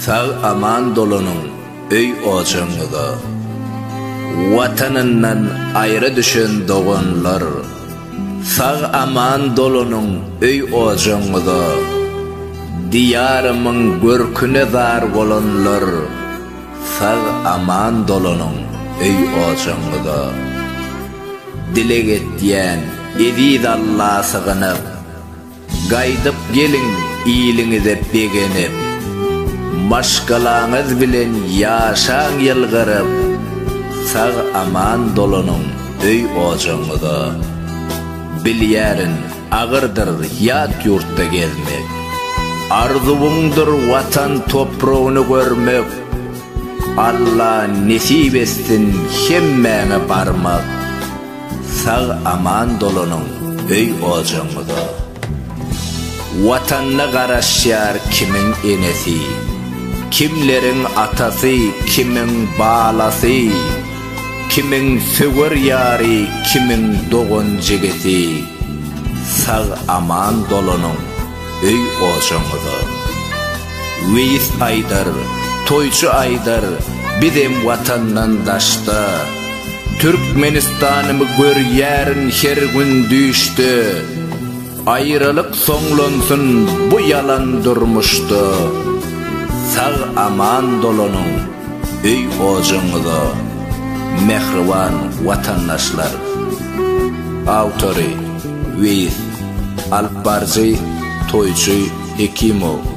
Sag aman dolanyň öý ojagyňyza. Watanyndan aýra düşen doganlar. Sag aman dolanyň öý ojagyňyza. Diýarymyň görküne zar bolanlar. Sag aman dolanyň öý ojagyňyza. Dileg etýän eziz Alla sygynyp. Gaýdyp geliň iliňize begenip, Maşgalaňyz bilen ýaşaň ýylgyryp, Sag-aman dolanyň öý-ojagyňyza. Bilýärin, agyrdyr ýat ýurtda gezmek, Arzuwyňdyr Watan topragyny görmek, Alla nesip etsin hemmäňe barmak. Sag aman dolanyň öý ojagyňyza. Watanyna garaşýar kimiň enesi, kimleriň atasy, kimiň balasy, kimiň söwer ýary, kimiň dogan-jigisi. Sag aman dolanyň. öý-ojagyňyza. Weýis aýdar, toýçy aýdar, bizem watandan daşda. Türkmenistanymy görýärin her gün düýşde. Aýralyk soňlansyn bu ýalan durmuşda. Sag-aman dolanyň öý-ojagyňyza, mähriban watandaşlar! Awtory, Weýis. Alypbaryjy, toýçy Hekimow.